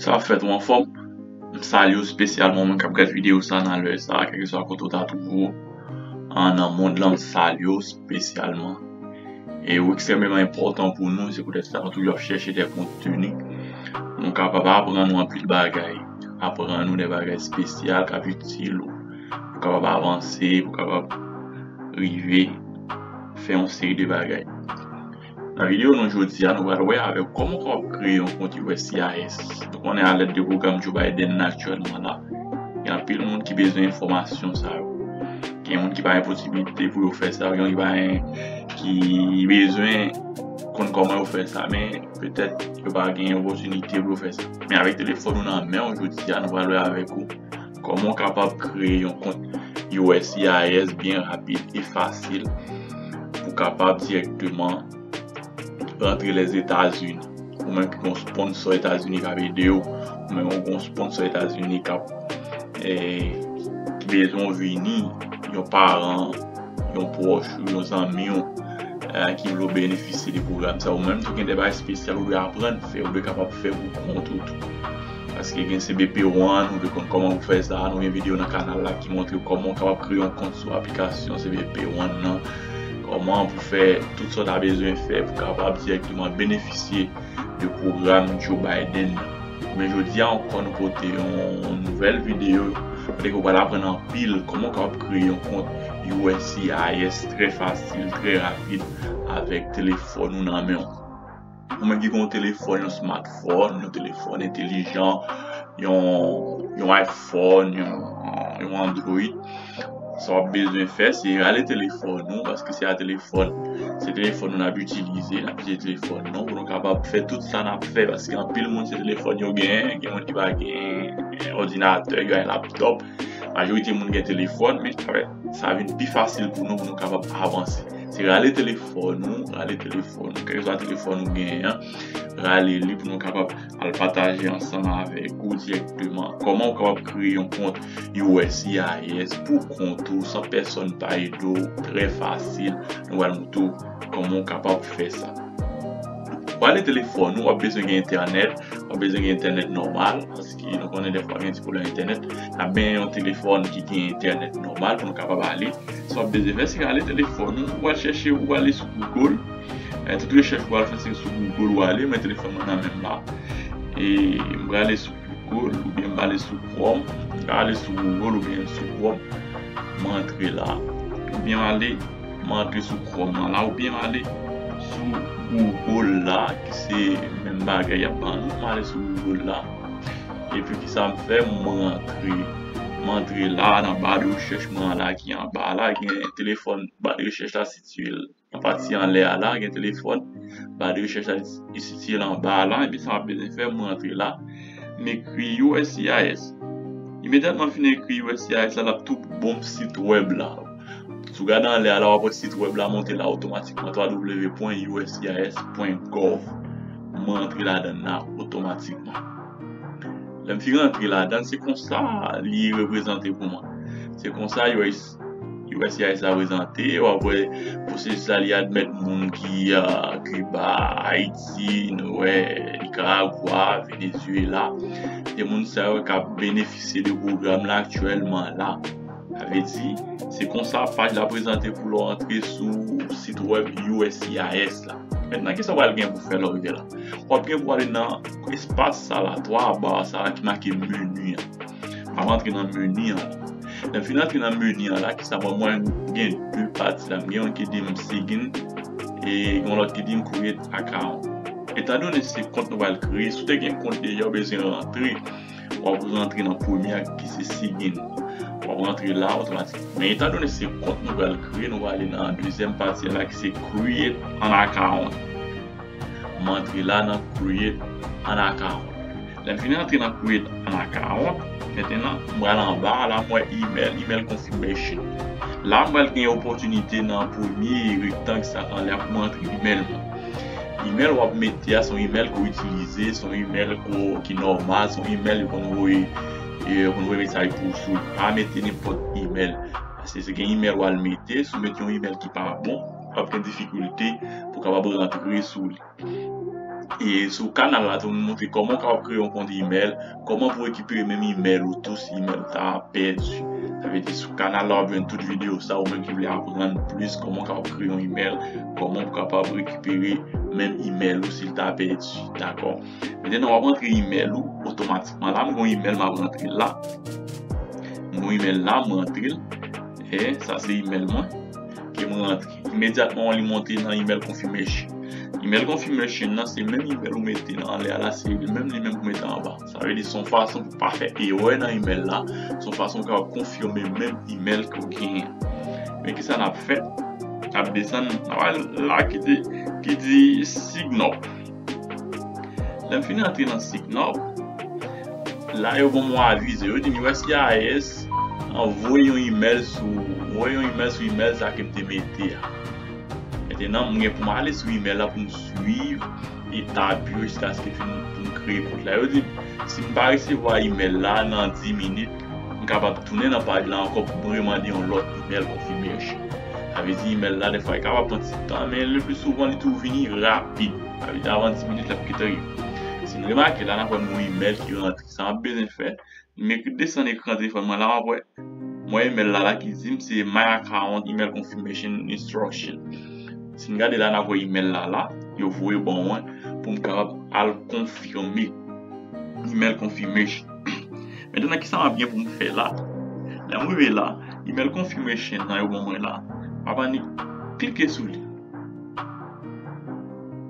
Sa ap fèt ou anfòm? M salye ou spesyalman mwen kap gad video sa nan lè sa kèlke swa kote ou ta twouve ou an nan mond lan m salye ou spesyalman e ou ekstrèmeman enpòtan pou nou se poutèt sa nou toujou ap chèche dè konteni pou nou kapab aprann ou anpil bagay aprann ou dè bagay spesyal kap itil ou pou kapab avanse pou kapab rive fè yon seri de bagay Nan video nou jodi a nou pral wè avèw kòman ou kapab kreye yon kont uscis. Nou konnen a lèd de pwogram Joe Biden nan aktyèlman la, gen anpil moun ki bezwen enfòmasyon sa yo. Gen moun ki pa gen posibilite pou yo fè sa, gen moun ki pa gen, ki bezwen konn kòman yo fè sa men petèt yo pa gen opòtinite pou yo fè sa. Men avèk telefòn ou nan menw jodi a nou pral wè avèk ou. Kòman w kapab kreye yon kont uscis byen rapid e fasil pou w kapab dirèkteman rantre Lèzetazini. Ou menm ki gen yon sponsò Etazini k ap ede w, ou menm ou gen yon sponsò Etazini k ap ki bezwen w vini, yon paran, yon pwòch ou, yon zanmi w ki vle w benefisye de pwogram sa a. Ou menm tou gen de bagay espesyal ou dwe aprann fè, ou dwe kapab fè pou kont ou tou. Paske gen cbp ou an, nou vle konn kòman pou fè sa, nou gen video nan kanal la ki montre kòman ou kapab kreye yon kont sou aplikasyon cbp ou an nan, kòman pou fè tout sa w ta bezwen fè pou kapab dirèkteman benefisye de pwogram Joe Biden nan. Men jodi a ankò nou pote yon nouvèl video kote ke w pral aprann anpil kòman ou kapab kreye yon kont uscis trè fasil, trè rapid avèk telefòn ou nan men w. Ou menm ki gen yon telefòn, yon smartphone, yon telefòn entelijan, yon iPhone, yon Android, sa wap bezwen fè se rale telefòn nou paske se a telefòn, se telefòn nou nap itilize, nap itilize telefòn nou pou nou kapab fè tout sa nap fè paske anpil moun se telefòn yo gen, gen moun ki pa gen òdinatè, gen laptop, majorite moun gen telefòn men. sa vin pi fasil pou nou pou nou kapab avanse. Se rale telefòn nou, rale telefòn nou, kèlkeswa telefòn nou genyen an, rale li pou nou kapab al pataje ansanm avèk ou dirèkteman kòman ou kapab kreye yon kont uscis pou kont ou san pèsòn pa ede w, trè fasil, nou pral montre w kòman ou kapab fè sa. Rale telefòn nou, w ap bezwen gen entènèt, w ap bezwen gen entènèt nòmal. ki nou konnen dèfwa gen ti pwoblèm entènèt, a men yon telefòn ki gen entènèt nòmal pou nou kapab ale. Sa w ap bezwen fè, se rale telefòn ou, ou al chèche, ou ale sou Google, tout rechèch ou al fè se sou Google ou ale, mwen telefòn mwen nan men m la, e m prale sou Google oubyen m prale sou Chrome, m prale sou Google oubyen sou Chrome, m rantre la, oubyen m ale. M antre sou chrome lan la oubyen m ale sou google la ki se menm bagay yap ban nou m ale sou google la epi kisa m fè m rantre m antre la nan ba de rechèch mwen an la ki anba la gen telefòn ba de rechèch la sitiye l nan pati anlè a la gen telefòn ba de rechèch la li sitiye l anba a la epi sa map bezwen fè m rantre la m ekri uscis imediatman m fin ekri uscis la lap tou bon m sitwèb la. Si w gade anlè a la w ap wè sit wèb la monte la otomatikman www.uscis.gov Mwen rantre ladan l la otomatikman Lè m fin rantre ladan l se konsa li reprezante pou mwen Se konsa uscis la prezante w ap wè pwosesis la li admèt moun ki Kiba, Ayiti, nou wè Nikaragwa, Venezyela Se moun sa yo k ap benefisye de pwogram la aktyèlman la. Sa vle di, se konsa paj la prezante pou lè w antre sou sit wèb uscis la. Mentnan kisa w pral gen pou fè lè w rive la? W ap gen pou ale nan espas sa la, 3 ba sa a ki make meni an. M ap antre nan meni an. Lè m fin antre nan meni an la, kisa m wè? M wè gen 2 pati la. M gen youn ki di m sign e gen yon lòt ki di m create account. Etandone se kont nou pral kreye, si w te gen kont deja ou bezwen rantre. wap rantre nan premye a ki se sigin wap rantre la otomatik men etan done se kont nou pral kreye nou pral ale nan dezyèm pati a la ki se create an account m antre la nan create an account lèm fini antre nan create an account mettenan m pral anba a la m wè email email confirmation la m pral gen opòtinite nan premye rektang sa anlè a pou m antre email mwen. Email wap mete a son email ke w itilize, son email ki nòmal, son email yo konn voye yo konn voye mesaj pou ou sou li. Pa mete nenpòt email. Paske se gen email wal mete, si w mete yon email ki pa bon, wap gen difikilte pou kapab rantre sou li. E sou kanal la tou m montre kòman ou kapab kreye yon kont email. Koman pou rekipere menm email ou tou si email ou ta pèdi. Sa vle di sou kanal la wap jwenn tout video sa ou menm ki vle aprann plis koman ou kapab kreye yon email, koman ou kapab rekipere menm email ou sil ta pèdi dakò. Mete nan wap antre email ou otomatikman la m gon email map rantre la. M gon email la m rantre'l e sa se email mwen kem rantre. Imedyatman li monte nan email confirmation. Email confirmation nan se menm email ou mete nan anlè a la, se li menm li menm pou mete anba. Sa vle di son fason pou pa fè erè nan email la, son fason ou kapab konfime menm email ke ou genyen. Men kisa nap fè? Nap desann, nap al la ki di sign up. Lèm fin antre nan sik nòb la yo banm yon avize yo dim uscis an voye yon imèl sou mwen voye yon imèl sou imèl sa kem te mete a mentenan mwen gen poum ale sou imèl la poum swiv etap yo jiskaske poum kreye kont la yo dim sim pa resevwa imèl la nan 10 minit M kapab tounen nan paj la ankò pou m remande yon lòt imèl konfimesyon. Sa vle di imèl la dèfwa li kapab pran ti tan men lepli souvan li toujou vini rapid. Sa vle di avan 10 minit l ap kite rive. Si n remake la n ap wè nouvo imèl ki rantre. Sa m ap bezwen fè, m ekri desann ekran telefòn mwen la m ap wè m wè imèl la la ki di m se my account email confirmation instruction. Si n gade la n ap wè imèl la la yo voye ban mwen pou m kapab al konfime imèl konfimesyon. Maintenant kisa map gen poum fè la? Lèm rive la, email confirmation nan yo ban mwen la, map annik klike sou li.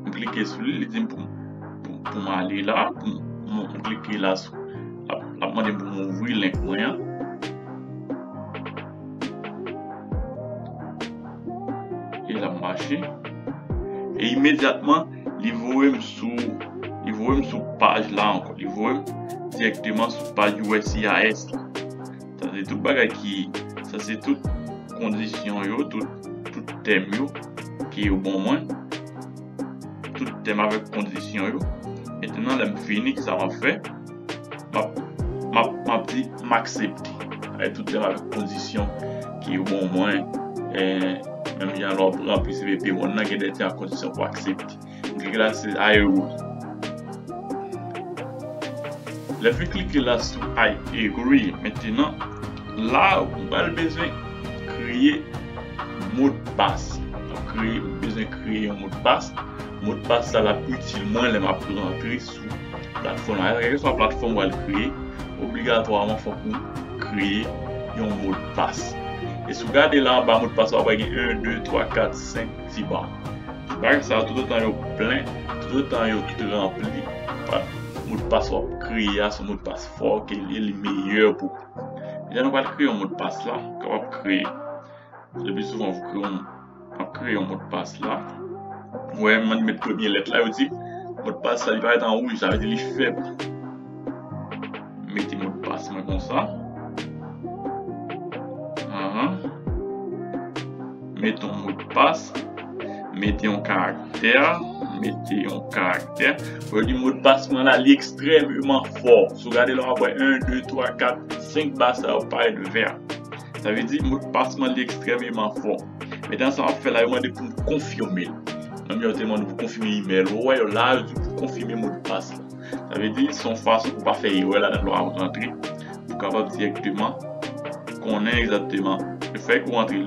M klike sou li, li dim poum poum ale la, poum m klike la sou lap mandem poum ouvri link mwen an. E lap mache. E imedyatman Li voye m sou Li voye m sou paj la ankò Li voye m dirèkteman sou paj uscis la Sa se tout bagay ki Sa se tout kondisyon yo Tout tèm yo Ke yo ban mwen Tout tèm avèk kondisyon yo Mètènan lè m fini kisa m ap fè Map di m aksepte e tout lèm avèk kondisyon ke yo ban mwen menm jan lè wap ranpli cbp moun nan gen dè kondisyon pou aksepte m klike la se I agree lèm fin klike la sou I agree mentenan la ou pral bezwen kreye modpas ou bezwen kreye yon modpas modpas sa lap itil mwen lèm ap rantre Platfòm nan, kèlke swa platfòm ou al kreye, obligatwaman fòk ou kreye yon modpas. E si w gade la anba modpas la, w ap wè gen 1, 2, 3, 4, 5 ti ba. Ba sa yo toutotan yo plen, toutotan yo tout ranpli, modpas ou ap kreye a se yon modpas fò ke li li meyè pou ou. Lè nou pral kreye yon modpas la, kè w ap kreye, lepi souvan ou kreye yon. Map kreye yon modpas la. Ou wè mwen met premye lèt la yo di modpas la li parèt an wouj sa vle di li fèb. Mete modpas mwen konsa. Ahan. Mete yon modpas. Mete yon karaktè. Mete yon karaktè. Ou di modpas mwen la li ekstrèmeman fò. Sou gade la wap wè 1, 2, 3, 4, 5 ba sa yo parèt vè. Sa vle di mot pas mwen li ekstrememan fò. Men tan sa wap fè la yo mande pou konfime. Menm jan yo te mande pou konfime email ou wè yo la yo di pou konfime mot pas la. Sa vle di son fason pou pa fè erè ladan lè wap rantre. Pou kapab direkteman konnen egzakteman le fè ke ou rantre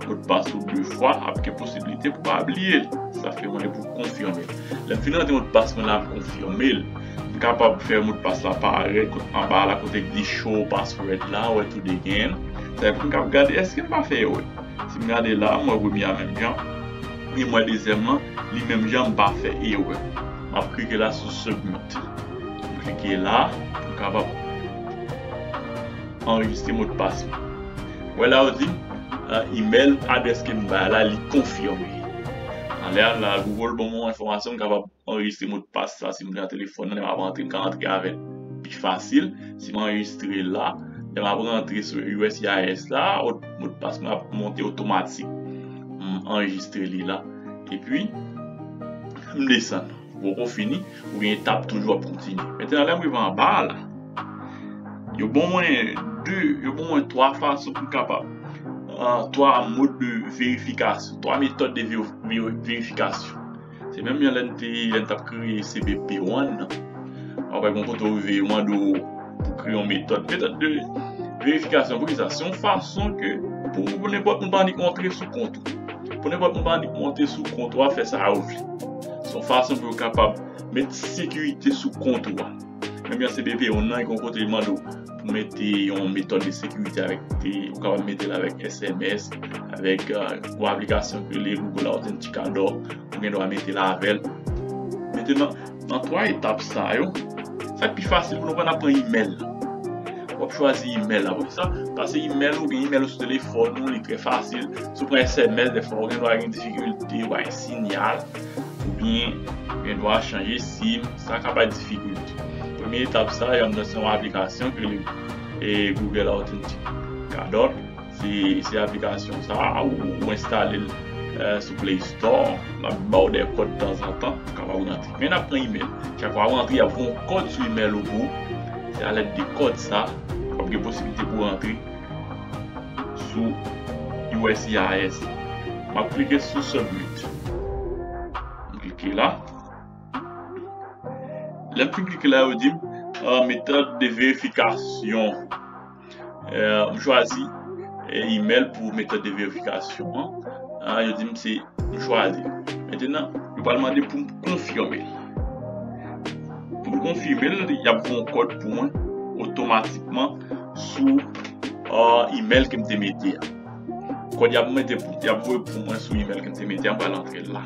mot pas ou 2 fwa ap gen posibilite pou pa bliye l. Sa fè mande pou konfime. Lèm fin rantre mot pas mwen la m konfime l. M kapab fè modpas la parèt kot anba la kote ki di show password la wè tou de gen sa epi m kap gade eske m pa fè erè si m gade la m wè premye a menm jan e m wè dezyèm lan li menm jan m pa fè erè map klike la sou submit m klike la pou m kapab anrejistre modpas mwen wè la yo di m email adrès ke m bay la li konfime alè a la google banm yon enfòmasyon m kapab. anrejistre modpas sa si m gen nan telefòn nan lè m ap antre m ka antre avè l pi fasil si m anrejistre l la lè m ap rantre sou uscis la modpas mwen ap monte otomatik m anrejistre li la epi m desann m poko fini ou gen etap toujou ap kontinye mettenan lè m rive anba a la yo ban mwen 2 yo ban mwen 3 fason pou m kapab 3 mode de verifikasyon 3 metòd de verifikasyon Se menm jan lè n te lè n t ap kreye CBP one nan. Wap wè gon kote ou rive yo mande w pou kreye yon metòd. Metòd de verifikasyon pou ki sa? Se yon fason ke pou nenpòt moun pa annik antre sou kont ou. Pou nenpòt moun pa annik monte sou kont ou a fè sa yo vle. Se yon fason pou yo kapab met sekirite sou kont ou a. Ebyen se BPI yon nan yon kote mande ou pou mete yon metòd de sekirite avèk te ou kapab mete l avèk SMS, avèk yon aplikasyon ki rele Google Authenticator ou gen dwa mete l avèl. Mentenan, nan 3 etap sa yo, sa k pi fasil pou nou pran n ap pran imèl la. Wap chwazi imèl la, poukisa? Pase imèl ou gen imèl ou sou telefòn ou li trè fasil. Si w pran SMS defwa ou gen dwa gen difikilte, ou pa gen sinyal, oubyen ou gen dwa chanje sim. Sa ka pa difikil. Premye etap sa yo anndan se yon aplikasyon ki rele Google Authenticator. Se aplikasyon sa a ou enstale l sou Play Store. L ap ba w dè kòd tanzantan ou kapab rantre. Men n ap pran imèl. Chak fwa w rantre y ap voye yon kòd sou imèl ou pou ou. Se alèd de kòd sa w ap gen posiblite pou w rantre sou uscis. M ap klike sou Submit. M klike la. Lè m fin klike la yo dim metòd de verifikasyon M chwazi email pou metòd de verifikasyon an Yo dim se m chwazi Mettenan yo pral mande poum konfime Poum konfime l yap voye yon kòd pou mwen otomatikman sou email kem te mete a Kòd yap voye pou mwen sou email kem te mete a m pral antre l la.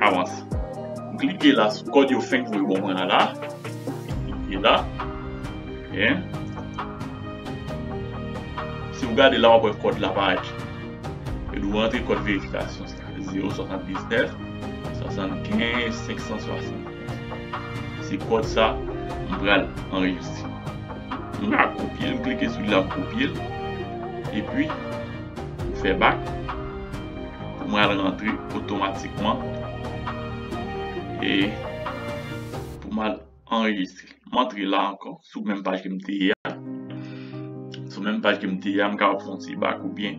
avanse. M klike la sou kòd yo fenk voye ban mwen an la. Klike la. Byen. Si ou gade la wap wè kòd la parèt. E nou rantre kòd verifikasyon sa. 0, 60, 19, 75, 560. Se kòd sa m pral anrejistre. M ka kopye l, m klike sou li la m kopye l. E pi, m fè bak. pou mwen al rantre otomatikman e pou mwen al anrejistre. M antre la ankò sou menm paj ke m te ye a. Sou menm paj ke m te ye a, m kapab fè yon ti bak oubyen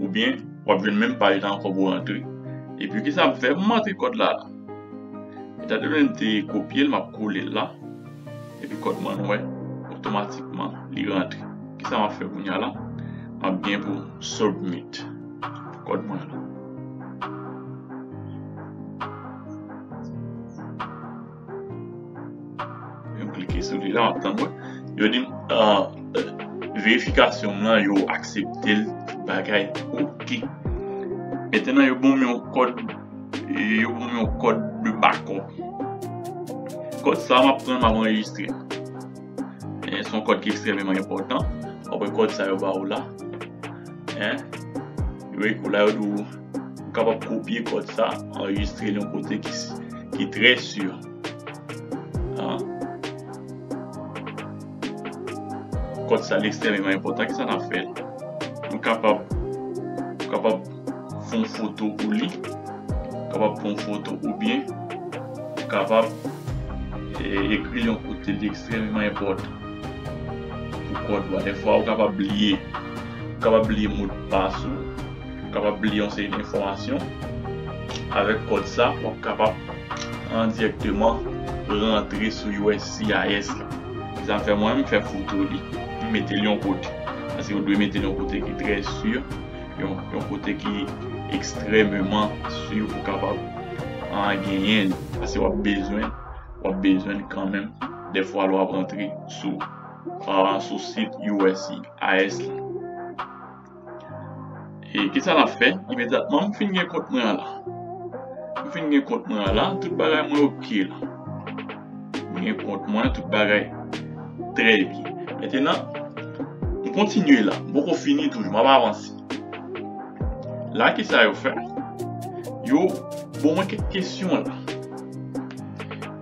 oubyen w ap jwenn menm paj la ankò pou rantre. Epi kisa m fè? M antre kòd la. Etandone m te kopye l, m ap kole l la. Epi kòd mwen wè otomatikman li rantre. Kisa m ap fè kounya la? M ap gen pou. Submit kòd mwen la. Mwen klike sou li la map tann mwen. Yo di uh, verifikasyon mwen yo aksepte l bagay ok. Etenan yo bon yon kòd yo bon yon kòd de bakòp. Kòd sa map pran map anrejistre. E son kòd ki ekstrememan enpòtan. Apre kòd sa yo ba ou la. E. Yo e kou la yo dou. Ou kapab kopye kòd sa. Anregistre yon kote ki si. Ki trè sur. A. Kòd sa li ekstrememan enpòtan. Ki sa nan fè. Ou kapab. Ou kapab. fon foto pou li, ou kapab fon foto oubyen ou kapab ekri yon kote li ekstrèmeman enpòtan pou kòd ou a. Dèfwa ou kapab bliye, ou kapab bliye modpas ou, ou kapab bliye yon seri enfòmasyon, avèk kòd sa w ap kapab endiyèkteman rantre sou uscis la. Se sa fè mwen m fè foto li, m mete l yon kote, paske ou dwe mete l yon kote ki trè si. yon kote ki ekstrememan si ou kapab an genyen li. Ase wap bezwen, wap bezwen li kanmenm defwa lwa prantre sou an sou sit USC AS la. E kisa la fè? Imediatman m fin gen kont mwen an la. M fin gen kont mwen an la, tout bagay mwen ok la. Mwen gen kont mwen, tout bagay trè byen. Mentenan, m kontinye la. M poko fini toujou, m ap avanse. La ki sa yo fè? Yo bon mwen kèk kesyon la.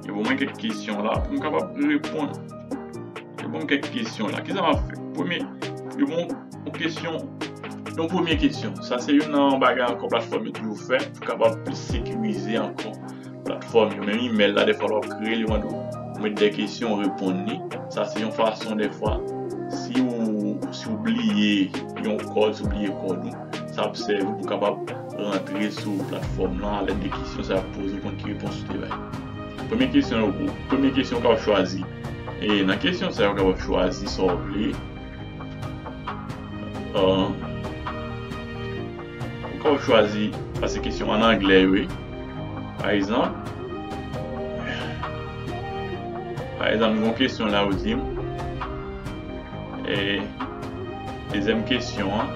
Yo bon mwen kèk kesyon la pou m kapab reponn. Yo bon mwen kèk kesyon la. Ki sa m ap fè? Premye, yo bon mwen kesyon, yon premye kesyon. Sa se yon nan bagay ankò platfòm yo toujou fè pou kapab plis sekirize ankò. Platfòm yo, menm email la dèfwa lè wap kreyel yo mande w met dè kesyon ou reponn li, sa se yon fason dèfwa si ou bliye yon kòd, si ou bliye kòd ou sa ap sèvi pou kapab rantre sou platfòm lan alèd de kesyon sa yo ap poze w konn ki repons ou te bay. Premye kesyon yo pou premye kesyon ou kapab chwazi e nan kesyon sa yo ou kapab chwazi sa ou vle. Pouka w chwazi pase kesyon an anglè yo e? Pa egzanp, pa egzanp gen yon kesyon la yo di m e dezyèm kesyon an,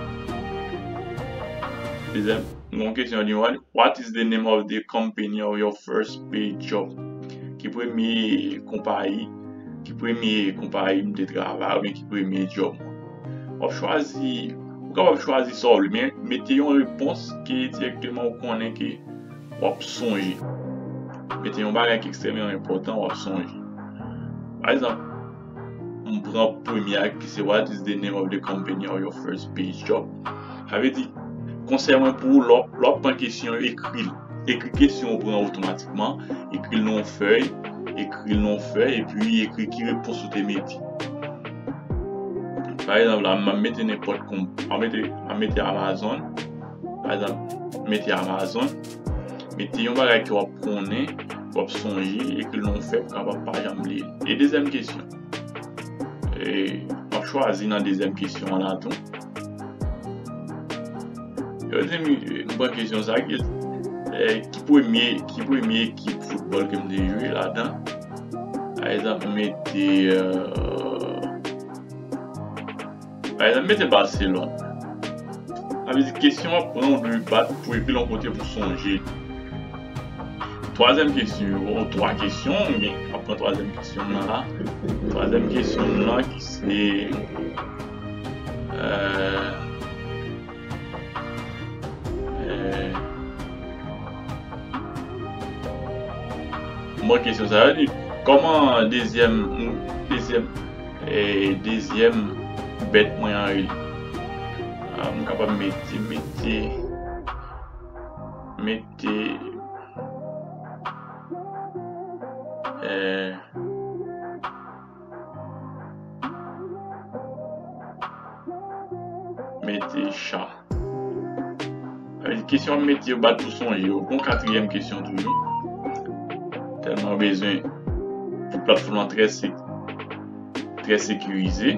dezyèm gen yon kesyon yo di m what is the name of the company of your first paid job? Ki premye konpayi, ki premye konpayi m te travay oubyen ki premye djòb mwen? Wap chwazi, ou kapab chwazi sa ou vle men mete yon repons ke direkteman ou konnen ke wap sonje. Mete yon bagay ki ekstrememan enpòtan wap sonje. Pa egzanp, m pran premye a ki se what is the name of the company of your first base job? Sa vle di, konsèy mwen pou ou lè wap pran kesyon yo ekri l. Ekri kesyon ou pran otomatikman, ekri l nan yon fèy, ekri l nan yon fèy epi ekri ki repons ou te mete. Par exemple la mwen mete nenpòt kon mwen mete mwen mete Amazon. Par exemple mete Amazon. Mete yon bagay ki wap konnen, wap sonje e ke nou fè pou kapab pa janm bliye. E dezyèm kesyon. E mwen chwazi nan dezyèm kesyon an la tou. Yo di mi mwen pran kesyon sa ki ki premye ki premye ekip foutbòl ke mwen te jwe ladan. Pa egzanp, mete Pa egzanp, mete Barcelone. Sa vle di kesyon an pran ou dwe bat pou ekri l yon kote pou sonje li. Twazyèm kesyon yo, ou twa kesyon, m gen ap pran twazyèm kesyon nan la. Twazyèm kesyon nan ki se Mwen kesyon sa yo di. Koman dezyèm dezyèm dezyèm bèt mwen an rele. M kapab mete mete mete eh. Mete chan. Kesyon mete yo bat pou sonje yo. Bon katriyèm kesyon toujou. Tèlman bezwen pou platfòm lan trè se trè sekirize.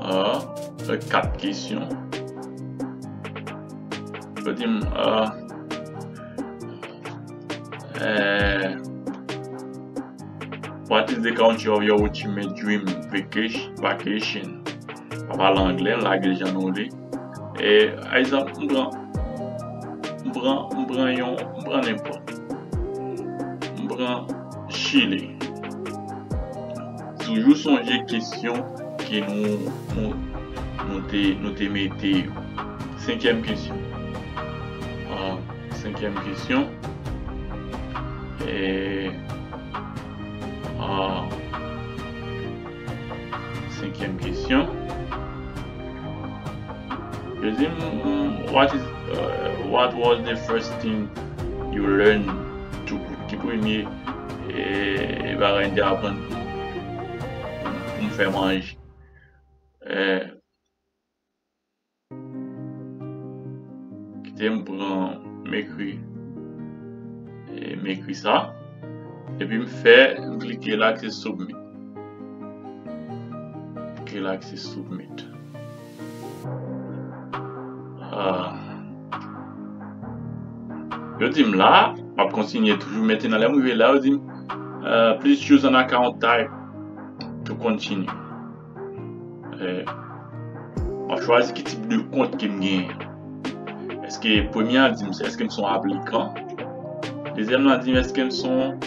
A, fè kat kesyon. Fè di m a e What is the country of your ultimate dream vacation? Pa pale anglè, lage l jan nou vle. E, a egzanp, m pran, m pran, m pran yon, m pran nenpòt. M pran Chile. Toujou sonje kesyon ke nou, nou, nou te, nou te mete yo. Senkyèm kesyon. Senkyèm kesyon, Senkyèm kesyon, Yo di m what is what was the first thing you learn to cook ki premye bagay m te aprann pou m fè manje. Kite m pran m ekri m ekri sa epi m fè m klike la ki se submit ok la ki se submit yo di m la m ap kontinye toujou mete nan lè m rive la yo di m please choose an account type to continue Euh, map chwazi ki tip de kont ke m genyen. Eske premye an di m se eske m son aplikan. Dezyèm nan di m eske m son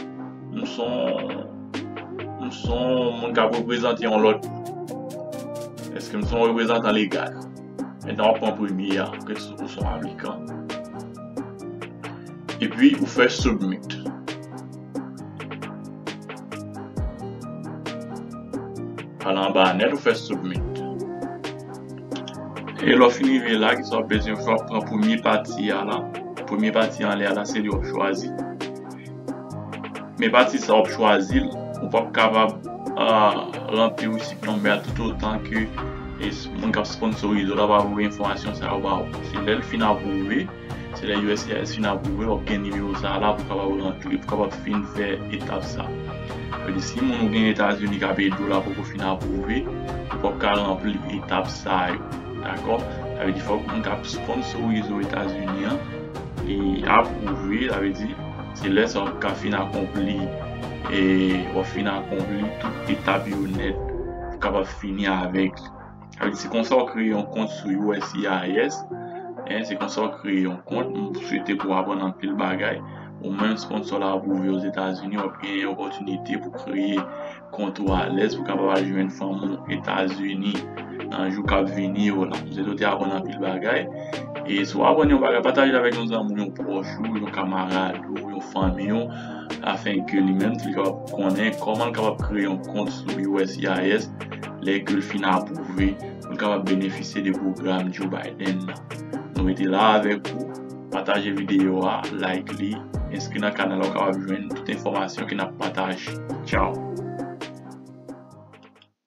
m son m son moun kap reprezante yon lòt moun. Eske m son reprezantan legal. Etan wap pran premye an ke ou son aplikan. Epi ou fè submit. Al anba a nèt ou fè submit. E lè w fin rive la, kisa w bezwen fè? W ap pran premye pati a la. Premye pati anlè a la se li w ap chwazi. Men pati sa w ap chwazi l, ou p ap kapab ranpli receipt number a toutotan ke moun k ap sponsorize w la pa voye enfòmasyon sa yo ba ou. Se lè l fin apwouve. Se lè uscis fin aprouve wap gen nimewo sa la pou kapab rantre pou kapab fin fè etap sa. Sa vle di si moun ou gen etazini kap edew la poko fin aprouve ou pap ka ranpli etap sa yo dakò sa vle di fòk moun kap sponsorize w etazini an li aprouve sa vle di se lè sa wap ka fin akonpli wap fin akonpli tout etap yo nèt pou kapab fini avèk li. Se konsa ou kreye yon kont sou uscis, se konsa ou kreye yon kont, m swete pou w aprann anpil bagay, ou menm sponsor la wap rive ozetazini wap gen yon opòtinite pou kreye kont ou alèz pou kapab al jwenn fanmi w etazini nan jou kap vini yo la, m swete ou te aprann anpil bagay, e si w aprann yon bagay pataje avèk yon zanmi w, yon pwòch ou, yon kamarad ou, yon fanmi w afenke li menm tou li kapab konnen kòman l kapab kreye yon kont sou uscis. Lè ke l fin apwouve, nou kapab benefisye de pwogram Joe Biden nan. Nou mete la a avèk ou. Pataje videyo a, like li, enskri nan kanal la ou kapab jwenn tout enfòmasyon ke n ap pataje. Tchaw!